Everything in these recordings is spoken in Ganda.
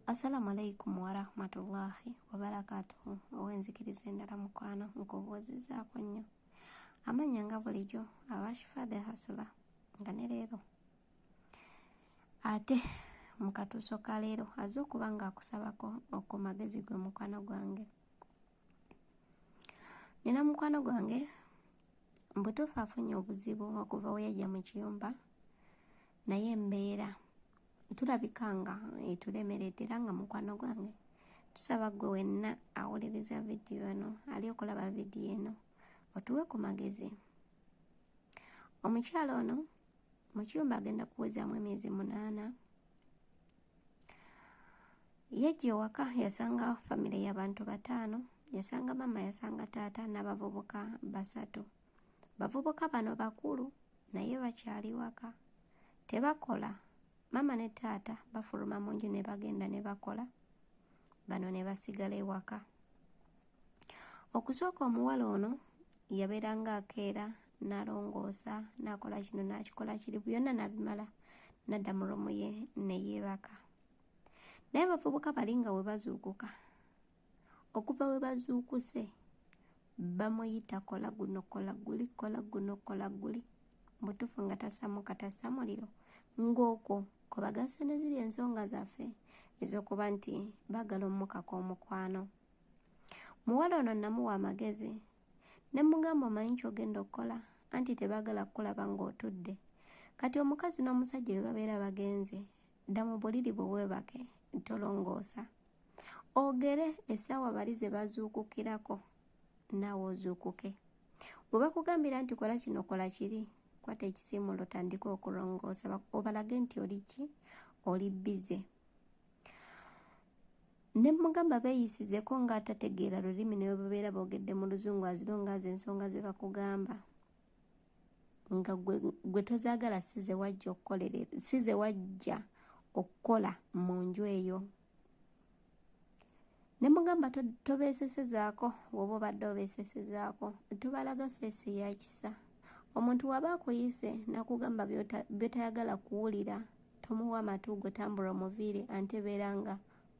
Assalamu alaikum warahmatullahi wabarakatuhu owenzikiriza endala mukwano nkubuuzizaako nnyo amanya nga bulijjo abashifa the hasula nga ne leero ate mu katuuso ka leero aze okuba ng'akusabako oku magezi gwe mukwano gwange nina mukwano gwange mbutuufu afunye obuzibu okuva weyajja mu kiyumba naye embeera tulabika nga etulemeredde era nga mukwano gwange tusaba gwe wenna awuliriza vidiyo eno ali okulaba vidiyo eno otuwe ku magezi omukyalo ono mu kiyumba agenda kuwezaamu emyezi munaana Yajja ewaka yasanga famire y'abantu bataano, yasanga maama, yasanga taata n'abavubuka basatu. Bavubuka bano bakulu naye bakyali waka, tebakola. Maama ne taata bafuluma mu nju ne bagenda ne bakola, bano ne basigala ewaka. Okusooka omuwala ono yabeeranga akeera nalongoosa nakola kino nakikola kiri byonna nabimala nadda mu romu ye neyeebaka naye abavubuka bali nga webazuukuka okuva webazuukuse bamuyita kola guno kola guli kola guno kola guli mutufu nga tasamuka tasa muliro ng'okwo kwebagasa ne ziri ensonga zaffe ez'okuba nti bagala omukaka omukwano muwala ono namuwa amagezi ne mugamba omanyi kyogenda okukola anti tebagala kukulaba ng'otudde kati omukazi n'omusajja bwe babeera bagenze dda mu buliri bwe weebake tolongoosa ogere essaawa bali ze bazuukukirako naawe ozuukuke bwe bakugambira nti kola kino kola kiri kwata ekisiimulo tandika okulongoosa obalage nti oli ki oli bbize ne mmugamba beeyisizeko nga atategeera lulimi ne bwe babeera boogedde mu luzungu azironga azo ensonga ze bakugamba nga gwe tozaagala si ze wajja okukolere si ze wajja okukola mu nju eyo ne mugamba tobeesesezaako woba obadde obeesesezaako tobalaga feesi ya kisa omuntu waba akuyise nakugamba byotayagala kuwulira tomuwa matu gwe tambula omuviire ante beera nga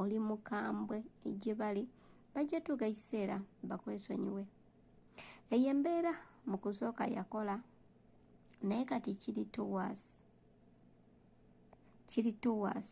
oli mukambwe gye bali bajja tuuka ekiseera bakwesonyiwe eyo embeera mu kusooka yakola naye kati kiri towas kiri towas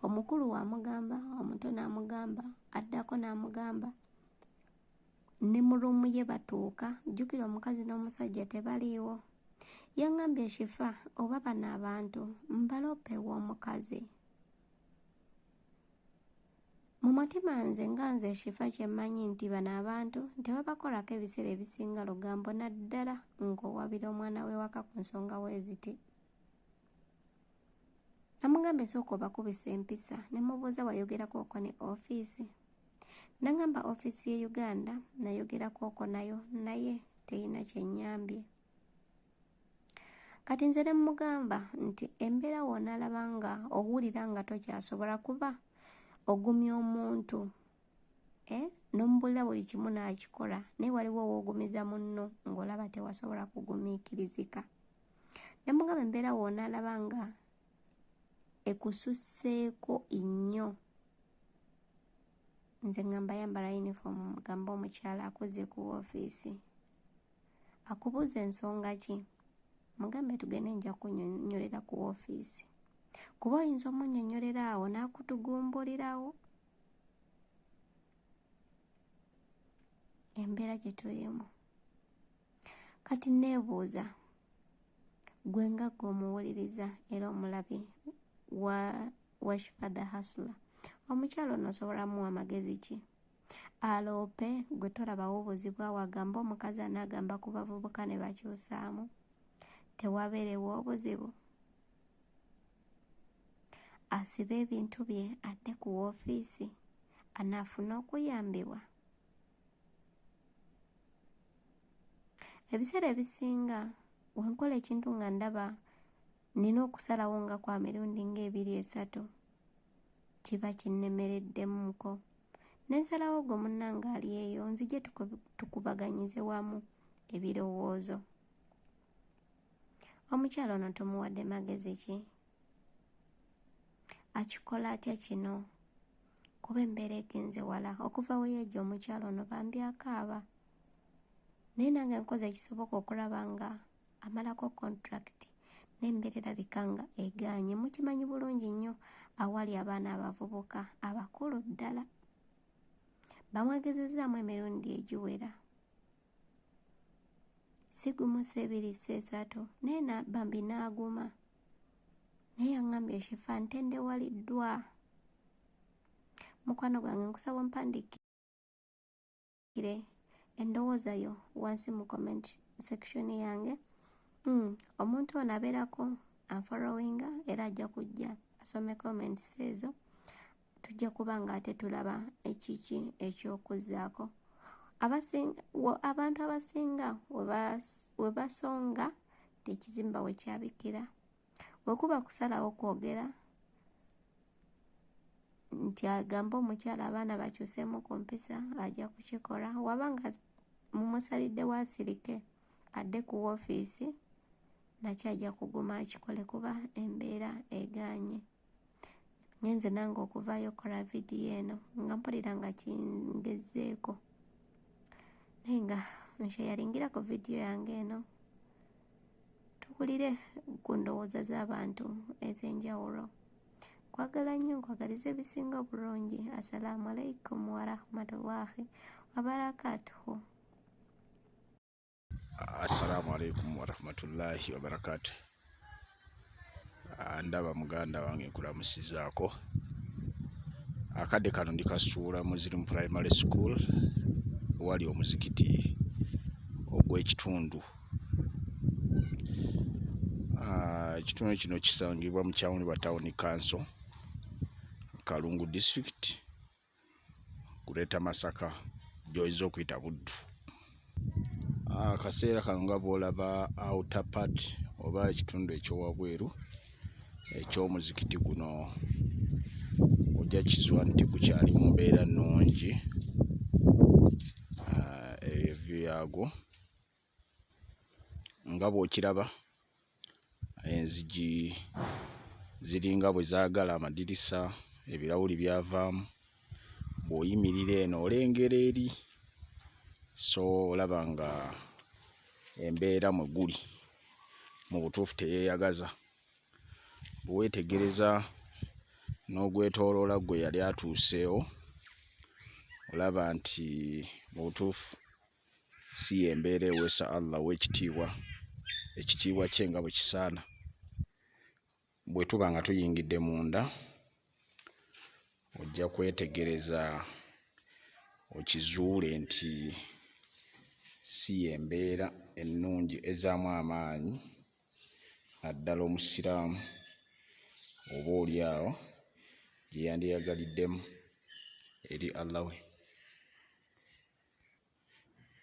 omukulu wamugamba omuto n'amugamba addako n'amugamba ne mu ruumu ye batuuka jjukira omukazi n'omusajja tebaliiwo yaŋŋambye shifa oba bano abantu mbaloopa ew'omukazi mu mutima nze nga nze shifa kye mmanyi nti bano abantu tebabakolako ebiseera ebisinga lugambo naddala ng'owabira omwana w'ewaka ku nsonga weeziti namugambye sooka obakubisa empisa ne mubuuza wayogerako oko ne ofiisi Nangamba office ye Uganda nayogera kwoko nayo naye teyina kyenyambye. Kati nze ne mugamba nti embera wona labanga owulira nga tokyasobola kuba ogumya omuntu eh nomubulira buli kimu nakikola naye waliwo owogumiza munno ngolaba tewasobola kugumikirizika. Nemugamba embera wona labanga ekususseeko nnyo nze ngamba yambala uniform mugamba omukyala akuze ku ofiisi akubuuza ensonga ki mugambe tugende nja kunyonyolera ku ofiisi kuba oyinza omunyonyolera awo n'akutugumbulirawo embeera gye tulimu kati neebuuza gwe nga gwe omuwuliriza era omulabi wa washfada hasula omukyalo ono osobolamu amagezi ki aloope gwe tolabawo obuzibu awo agamba omukazi anaagamba ku bavubuka ne bakyusaamu tewabeerewo obuzibu asibe ebintu bye adde ku woofiisi anaafuna okuyambibwa ebiseera ebisinga wenkola ekintu nga ndaba nina okusalawo nga kwa mirundi ng'ebiri esatu kiba kinnemereddemumuko ne nsalawo gwe munnange ali eyo nzije tukubaganyize wamu ebirowoozo omukyala ono tomuwadde magezi ki akikola atya kino kuba embeera egenze wala okuva we yajja omukyala ono bambi akaaba naye nange nkoze ekisoboka okulaba nga amalako kontulakiti n'embeera erabika nga egaanye mukimanyi bulungi nnyo awali abaana abavubuka abakulu ddala bamwegezezzaamu emirundi egiwera sigumu seebiri seesatu naye bambi n'aguma naye yaŋŋambye shifa ntendewaliddwa mukwano gwange nkusaba ompandiikire endowooza yo wansi mu comment section yange mm, omuntu ono abeerako anfollowinga era ajja kujja asome comments ezo tujja kuba ng'ate tulaba ekiki eky'okuzzaako abantu abasinga we basonga tekizimba we kyabikira we kuba kusalawo kwogera nti agamba omukyala abaana bakyuseemu ku mpisa ajja kukikola waba nga mumusalidde waasirike adde ku woofiisi nakyo ajja kuguma akikole kuba embeera egaanye ngenze nange okuvaayo okukola vidiyo eno nga mpulira nga kingezeeko naye nga nsheyaringira ku vidiyo yange eno tukulire ku ndowooza z'abantu ez'enjawulo kwagala nnyo nkwagaliza ebisinga obulungi assalaamu alaikum warahmatullahi wabarakatuhu assalamu alaikum warahmatullahi wabarakatu ah, ndaba muganda wange nkulamusizaako akadde kano ndikasuula mu zirimu primary school wali omuzikiti ogw'ekitundu ah, ekitundu kino kisangibwa mu kyawuni wa tawuni kanso kalungu district kuleeta masaka gyoyinza okuyita buddu ah, akaseera kano nga bwolaba outer part oba ekitundu ekyowabweru ekyomuzikiti guno ojja kizwa nti gukyali mu mbeera nnungi ah, ebyo yaagwo nga bw'okiraba enzigi ziringa bwe zaagala amadirisa ebirawuli byavaamu bw'oyimirira eno olengera eri so olaba nga embeera mwe guli mu butuufu teyeeyagaza bwe weetegereza n'ogwetooloola gwe yali atuuseewo olaba nti mu butuufu si yembeera eweesa allah owekitiibwa ekitiibwa kye nga bwekisaana bwetuba nga tuyingidde munda ojja kwetegereza okizuule nti si yembeera ennungi ezaamu amaanyi naddala omusiraamu oba oli awo gyeyandiyagaliddemu eri allah we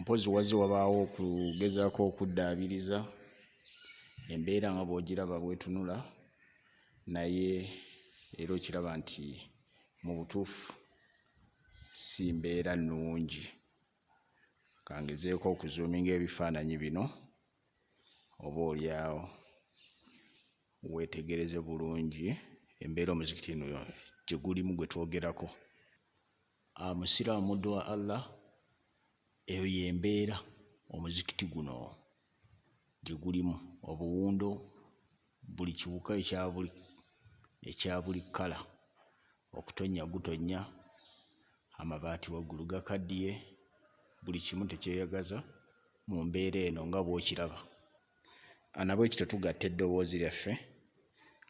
mpozi wazze wabaawo okugezaako okuddaabiriza embeera nga bw'ogiraba bwetunula naye era okiraba nti mu butuufu si mbeera nnungi kangezeeko okuzuuminga ebifaananyi bino oba olyawo weetegereze bulungi embeera omuzikiti no gye gulimu gwe twogerako Ah, musiraamu muddu wa allah eyo yembeera omuzikiti guno gye gulimu obuwundo buli kiwuka ekyabuli ekyabuli kkala okutonnya gutonnya amabaati waggulu gakaddiye buli kimu tekyeyagaza mu mbeera eno nga bw'okiraba anabwekityo tugatta eddoboozi lyaffe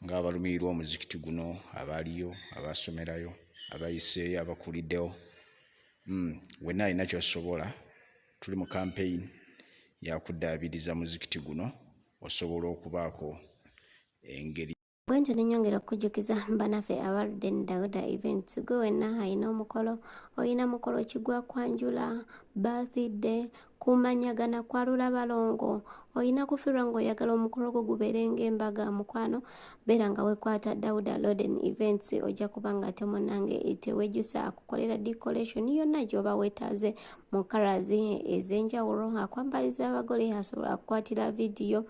ng'abalumirirwa omuzikiti guno abaaliyo abaasomerayo abayiseeyo abakuliddewo hmm, wenna alina kyosobola tuli mu kampeyini yakuddaabiriza muzikiti guno osobola okubaako engeri bwentyo nenyongera okukujjukiza banaffe abaludde ne dagoda events gwe wenna alina omukolo olina mukolo kigwa kwanjula birthday kumanyagana kwalula balongo olina kufirwa ng'oyagala omukolo gwo gubeere ng'embaga mukwano beera nga wekwata dauda loden events ojja kuba nga ate munange tewejjusa akukolera decoration yonna gyoba wetaaze mu karazi ez'enjawulo akwambaliza abagole asobola akukwatira vidiyo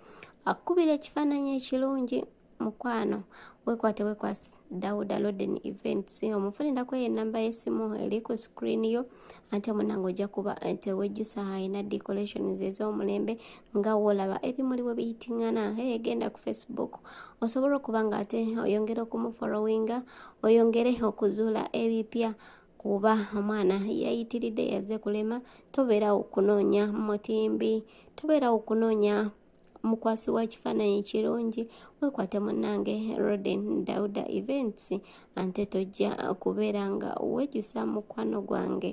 akukubira ekifaananyi ekirungi mukwano wekwate wekwasi dauda loden events omufunira kweyo enamba yesimu eri ku screen yo ante munange ojja kuba eh, tewejjusa alina decorations ez'omulembe nga wolaba ebimuli we biyitingana hey, genda ku facebook osobola okuba nga ate oyongere okumufollowinga oyongere okuzuula ebipya kuba omwana yayitiridde yaze kulema tobeerawo kunoonya mutimbi tobeerawo kunoonya mukwasi wa kifaananyi kirungi wekwate munange roden dauda events ante tojja kubeera nga wejusa mukwano gwange